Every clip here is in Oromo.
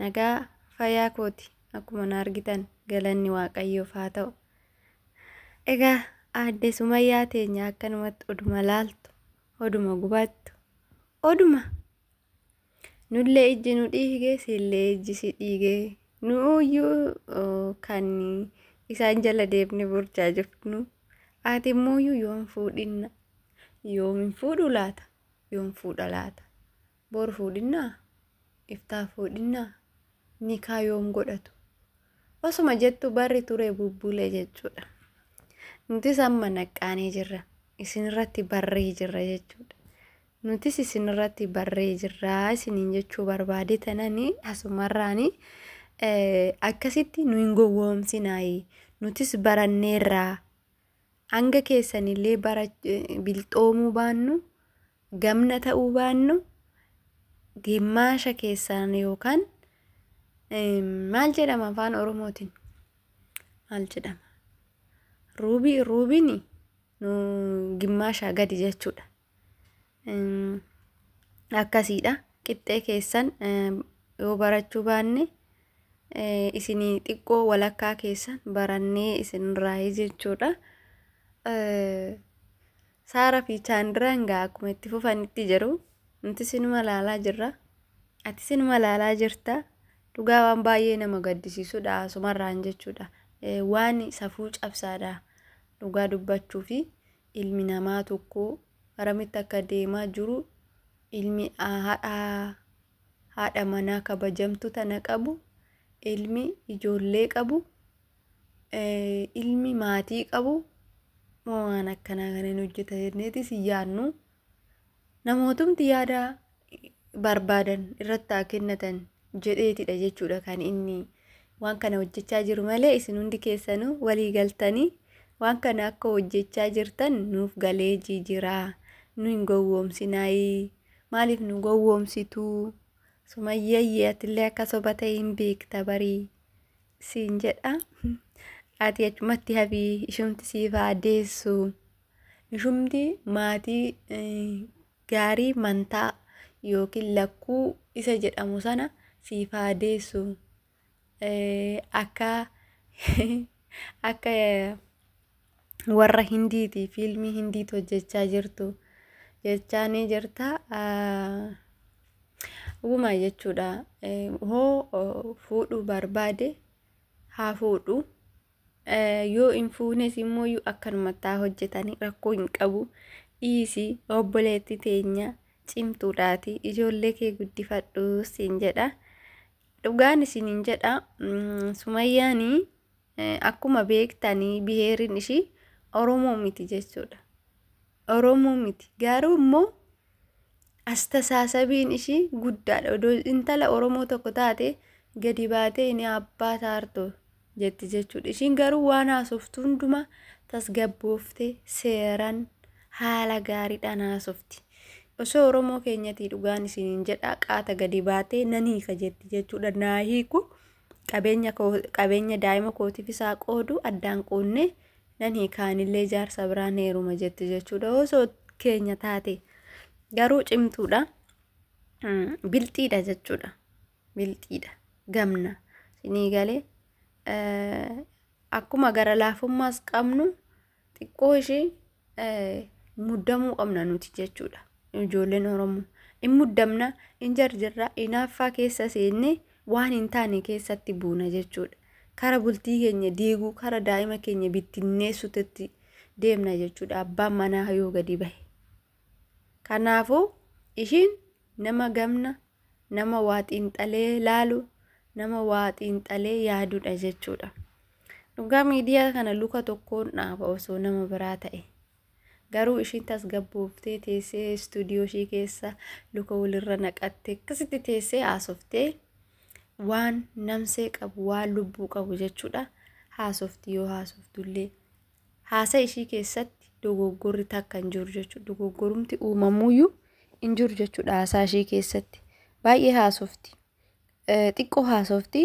Nagaa fayyaa kooti akkuma na argitan galanni waaqayyoof haa ta'u. Egaa aadde Sumayyaa teenya akkanumatti oduma laaltu, oduma gubattu, oduma nullee ijji nu dhiige siillee ijji si dhiige nuuyyuu uh, kan isaan jala deemne burchaa jirtu ati immoo yoom fuudhinna yoom hin fuudhu laata yoom fuudha laata Bor fuudhinnaa? Iftaa fuudhinnaa? Nikaa yoom godhatu? Osuma jettu barri ture bubbulee jechuudha. Nutis amma naqqaanee jirra. Isinirratti barree jirra jechuudha. Nutis isinirratti barree jirra isiniin jechuu barbaade tanani asumarraani akkasitti nu hin gowwoomsinaayi. Nutis baranneerraa. Hanga keessanillee bara bilxoomuu baannu, gamna ta'uu baannu, gimmaasha keessaan yookaan maal jedhama afaan Oromootiin? Maal jedhama? Ruubii, ruubiin nu gimmaashaa gadi jechuudha. akkasiidha qixxee keessan yoo barachuu baanne isinii xiqqoo walakkaa keessan barannee isinirraa jechuudha. Saara fi Chaandiraan gaa akkuma itti fufanitti jiru. Nuti sinuma laalaa jirra. Ati sinuma laalaa jirta. Dhugaa waan baay'ee nama gaddisiisudha asumarraan jechuudha. Waan safuu cabsaadha dhugaa dubbachuu fi ilmi namaa tokko aramitti akka deemaa jiru ilmi haadha manaa kabajamtu tana qabu ilmi ijoollee qabu ilmi maatii qabu waan akkanaa kan hin hojjeta jenneeti si yaadnu. Namootumti yaada barbaadan irratti haa kennatan jedheetidha jechuudha kan inni waan kana hojjechaa jiru malee isin hundi keessanuu walii galtanii waan kana akka hojjechaa jirtan nuuf galee jijiraa nu hin gowwoomsinaayii maaliif nu gowwoomsituu sumayyayyee atillee akka soba ta'e hin beekta barii siin jedha ati achumatti hafii ishumti siifaa deessuu. Ishumti maatii gaarii mantaa yookiin lakkuu isa jedhamu sana siif haa deessu. Akka akka warra hindiiti fiilmii hindiitu hojjechaa jirtu jechaa ni jirta. Uumaa jechuudha. Hoo fuudhuu barbaade haa fuudhu. Yoo hin fuunes immoo akkanumatti haa hojjetanii rakkoo hin qabu. Dhiisi obboleetti teenya cimtuudhaati ijoollee kee guddifadhu siin jedha. Dhugaan isiniin jedha Sumayyaanii akkuma beektanii biheerin ishii Oromoo miti jechuudha. Oromoo miti. Garuu immoo astasaasabiin ishii guddaadha. Odoo intala Oromoo tokko taate gadi baatee ini abbaa taartoo jetti jechuudha. Ishiin garuu waan haasoftu hundumaa tasgabboofte seeran haala gaariidhaan haasofti. Osoo Oromoo keenyatii dhugaan isiniin jedhaa qaata gadi baatee nan hiika jetti jechuudha. Naa hiiku qabeenya, qabeenya daa'ima kootiif isaa qoodu addaan quunnee nan hiika anillee jaarsa biraan heeruma jetti jechuudha osoo keenya taate garuu cimtuudha bilxiidha jechuudha bilxiidha gamna sinii galee akkuma gara laafummaas qabnu xiqqoo ishee muddamuu qabna nuti jechuudha ijoolleen oromoo in muddamna in jarjarra inaaffaa keessa seenne waan hin taane keessatti buuna jechuudha. Kara bultii keenya diiguu, kara daa'ima keenya bittinneessutetti deemna jechuudha abbaan manaa yoo gadi bahe. Kanaafuu ishiin nama gamna, nama waa xiinxalee laalu, nama waa xiinxalee yaadudha jechuudha. Dhugaa miidiyaa kana luka tokkoon dhaaba osoo nama biraa ta'e. Garuu ishiin tasgabbooftee teessee istuudiyoo ishii keessa luka walirra naqattee akkasitti teessee haasoftee waan namsee qabu waan lubbuu qabu jechuudha haasofti yoo haasoftullee haasa ishii keessatti dogoggorri takka hin jiru jechuudha dogoggorumti uumamuuyyuu hin jiru jechuudha haasaa ishii keessatti baay'ee haasofti xiqqoo haasofti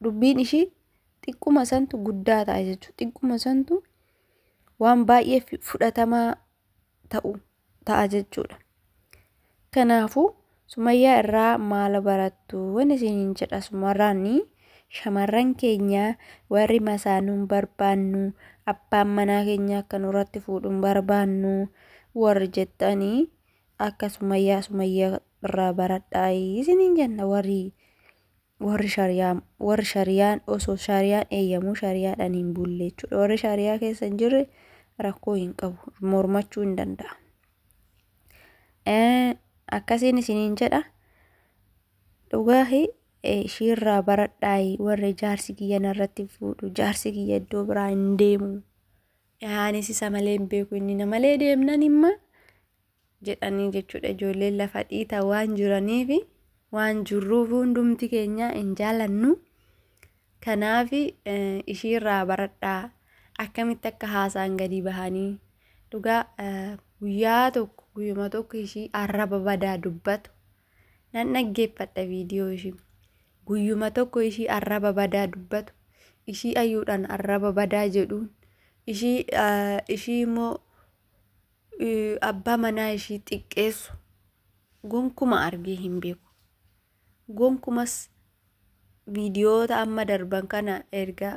dubbiin ishii xiqquma santu guddaa ta'a jechuudha xiqquma santu waan baay'ee fudhatamaa ta'u ta'a jechuudha. Kanaafuu sumayyaa irraa maal barattu waan isiniin jedha sumarraani shamarran keenya warri masaanuun barbaannu abbaan manaa keenya akka nurratti fuudhuun barbaannu warri jettanii akka sumayyaa sumayyaa irraa baradhaa isiniin jenna warri warri shariyaa warri shariyaan osoo shariyaan eeyyamuu shariyaadhaan hin bulle jechuudha warri shariyaa keessa hin jirre rakkoo hin qabu mormachuu hin danda'a Eh, akkasiin isiniin jedha dhugaahi eh, ishiirraa baradhaayi warri jaarsi kiyya narratti fuudhu jaarsi kiyya iddoo biraa hin deemu anis isa malee hin beeku inni na malee deemnan imma jedhanii jechuudha ijoolleen lafa dhiita waan jiraniifi waan jirruuf hundumti keenya hin jaalannu kanaaf ishiirraa baradhaa akkamitti akka haasaan gadi bahanii dhugaa guyyaa tokko guyyuma tokko ishii arraba badaa dubbatu nan dhaggeeffadha viidiyoo ishii guyyuma tokko ishii arraba badaa dubbatu ishii ayyuudhaan arraba badaa jedhuun ishii ishii immoo abbaa manaa ishii xiqqeessu gonkuma argee hin beeku. Gonkumas viidiyoota amma darban kana erga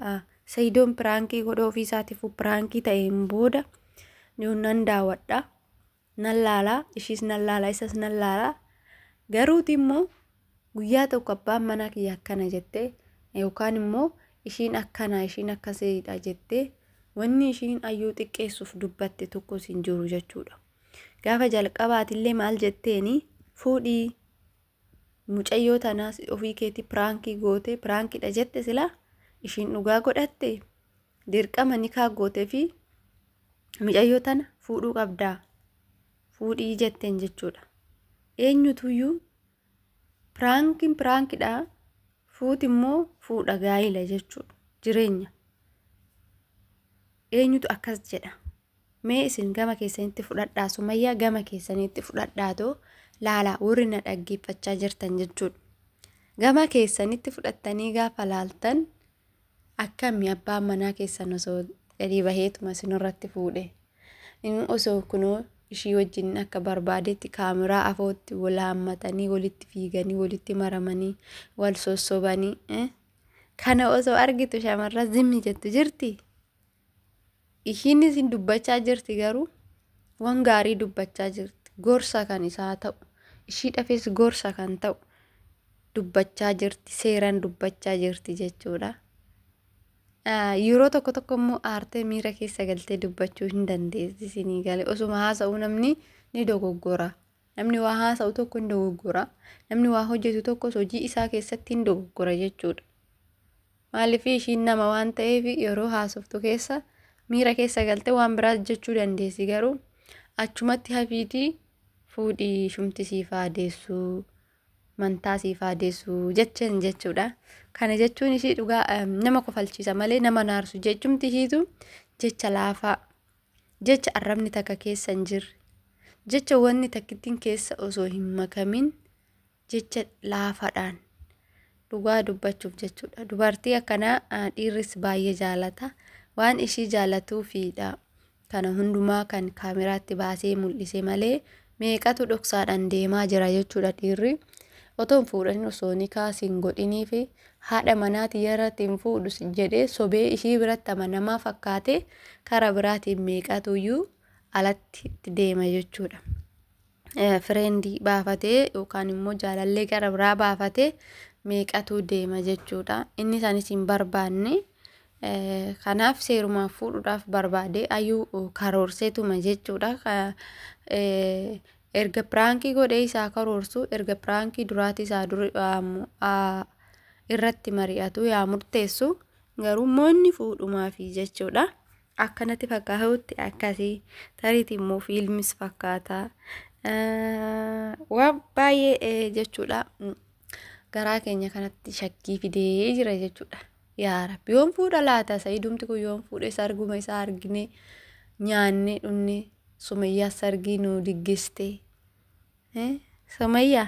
Sayidoon piraankii godha ofii isaatiifuu piraankii ta'een booda nan daawwadha. Nan laala ishiis nan laala isas nan laala. Garuuti immoo Guyyaa tokko abbaan manaa kiyya akkana jette yookaan immoo ishiin akkana ishiin akkasiidha jette wanni ishiin ayyuu xiqqeessuuf dubbatte tokkos hin jiru jechuudha. Gaafa jalqabaatillee maal jetteeni fuudhii mucayyoo tanaas ofii keetii piraankii goote piraankiidha jette silaa ishiin dhugaa godhatte dirqama nikaa goote fi mucayyoo tana fuudhuu qabdaa fuudhii jetteen jechuudha. Eenyutuyyuu piraankiin piraankidha fuuti immoo fuudha gaa'ila jechuudha jireenya eenyutu akkas jedha mee isin gama keessanitti fudhadhaa sumayyaa gama keessanitti fudhadhaatoo laalaa warri na dhaggeeffachaa jirtan jechuudha gama keessanitti fudhattanii gaafa laaltan Akkami abbaan manaa keessan osoo gadi baheetuma isinirratti fuudhe. Inni osoo kunoo ishii wajjin akka barbaadetti kaameraa afootti wal haammatanii walitti fiiganii walitti maramanii wal sossobanii. Kana osoo argitu shamarran zimmi jettu jirti. Ishiin isin dubbachaa jirti garuu waan gaarii dubbachaa jirti. Gorsa kan isaa ta'u. Ishii dhafes gorsa kan ta'u dubbachaa jirti. Seeraan dubbachaa jirti jechuudha. Yeroo tokko tokko immoo aartee miira keessa galtee dubbachuu hin dandeessi isinii gale. Osuma haasa'u namni ni dogoggora. Namni waa haasa'u tokko hin dogoggora. Namni waa hojjetu tokkos hojii isaa keessatti hin dogoggora jechuudha. Maaliifii ishiin nama waan ta'eef yeroo haasoftu keessa miira keessa galte waan biraas jechuu dandeessi garuu achumatti hafiitii fuudhii shumti siif haa deessuu mantaa siif haa deessuu jecheen jechuudha. Kana jechuun ishii dhugaa em, nama kofalchiisa malee nama naarsu jechumti ishiitu jecha laafaa jecha arrabni takka keessa hin jirre jecha wanni takkittiin keessa osoo hin makamin jecha laafaadhaan dhugaa dubbachuuf jechuudha. Dubartii akkanaa dhiirris baay'ee jaalata. Waan ishii jaalatuufiidha kana hundumaa kan kaameraatti baasee mul'ise malee meeqatu dhoksaadhaan deemaa jira jechuudha dhiirri. Otoon fuudhanii osoo nikaa siin godhinii fi haadha manaati irratti hin fuudhu jedhee sobee ishii biratti amanamaa fakkaatee karaa biraatiin meeqatuyyuu alatti itti deema jechuudha. fireendii baafatee yookaan immoo jaalallee gara biraa baafatee meeqatu deema jechuudha. Inni isaanis hin barbaanne. Kanaaf seerumaaf fuudhuudhaaf barbaadee ayuu karoorseetuma jechuudha. Erga piraankii godhee isaa karoorsu erga piraankii duraati isaa duri irratti mari'atu yaa murteessu garuu immoo inni fuudhumaafi jechuudha. Akka natti fakkaatutti akkasi. Tariiti immoo fiilmis fakkaata. Waan baay'ee jechuudha. Garaa keenya kanatti shakkii fidee jira jechuudha. Yaa Rabbi yoon fuudha laata sa'iidumti kun yoon fuudhe sarguma isaa argine nyaanne dhunne sumayyaa sargii nu diggiste. Sumayyaa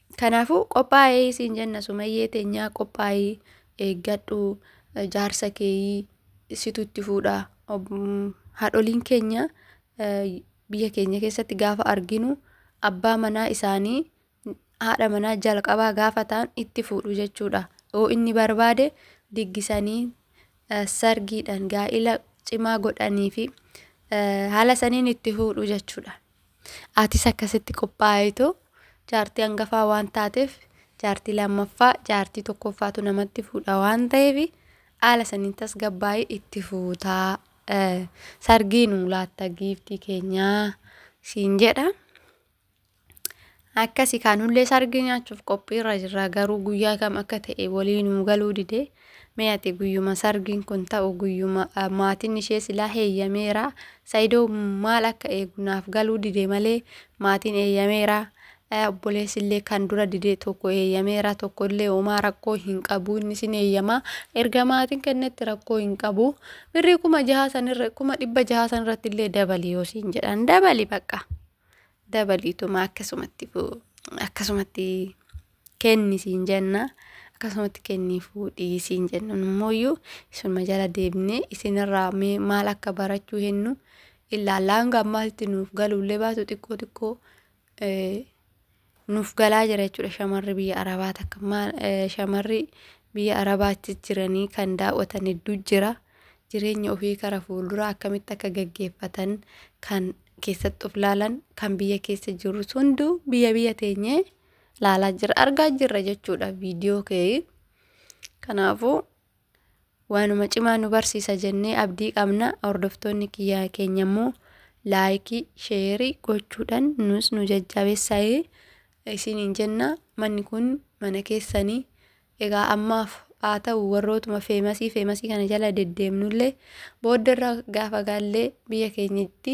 Kanaafuu qophaa'ee siin jenna sumayyee teenyaa qophaa'ii eeggadhu jaarsa keeyii situ itti fuudha haadholiin keenya biyya keenya keessatti gaafa arginu abbaa manaa isaanii haadha manaa jalqabaa gaafa ta'an itti fuudhu jechuudha yoo inni barbaade diggisanii sargiidhaan gaa'ila cimaa godhanii fi haala saniin itti fuudhu jechuudha. Atis akkasitti qophaa'itu jaartii hangafaa waan taateef jaartii lammaffaa jaartii tokkoffaatu namatti fuudha waan ta'eef haala saniin tasgabbaa'ii itti fuutaa eh, sargii nuu laatta giiftii keenyaa siin jedha. Akkasi kaa nullee sargii nyaachuuf qophiirra jirra garuu guyyaa kam akka ta'e walii nuu galuu dide mee ati guyyuma sargiin kun ta'u guyyuma maatiin ishee silaa heeyyameera saidoo maal akka eegu naaf galuu dide malee maatiin eeyyameera obboleessillee kan dura dide tokko eeyyameera tokkollee homaa rakkoo hin qabu inni sin eeyyamaa erga maatiin kennetti rakkoo hin qabu birrii kuma jahaa sanirra kuma dhibba jahaa sanirratti illee dabali yoo siin jedhan dabali baqqaa. dabaliituma akkasumatti fu- akkasumatti kenni siin jenna akkasumatti kenni fuudhii siin jenna nummooyyuu isinuma jala deebinee isinirraa mee maal akka barachuu hennu illaallaan gammaatti nuuf galuullee baatu xiqqoo xiqqoo eh, nuuf galaa jira jechuudha shamarri biyya arabaa takka maal eh, shamarri biyya arabaatti jiranii kan daawwatan hedduu jira jireenya ofii kara fuulduraa akkamitti akka gaggeeffatan kan keessatti of laalan kan biyya keessa jirus hunduu biyya biyya teenyee laalaa jira argaa jirra jechuudha viidiyoo kee kanaafuu waanuma cimaa nu barsiisa jennee abdii qabna hordoftoonni kiyyaa keenya immoo laayikii sheerii gochuudhaan nus nu jajjabeessaa'ee isiniin jenna manni kun mana keessanii egaa ammaaf haa ta'u warrootuma feemasii feemasii kana jala deddeemnullee booddarra gaafa gaallee biyya keenyatti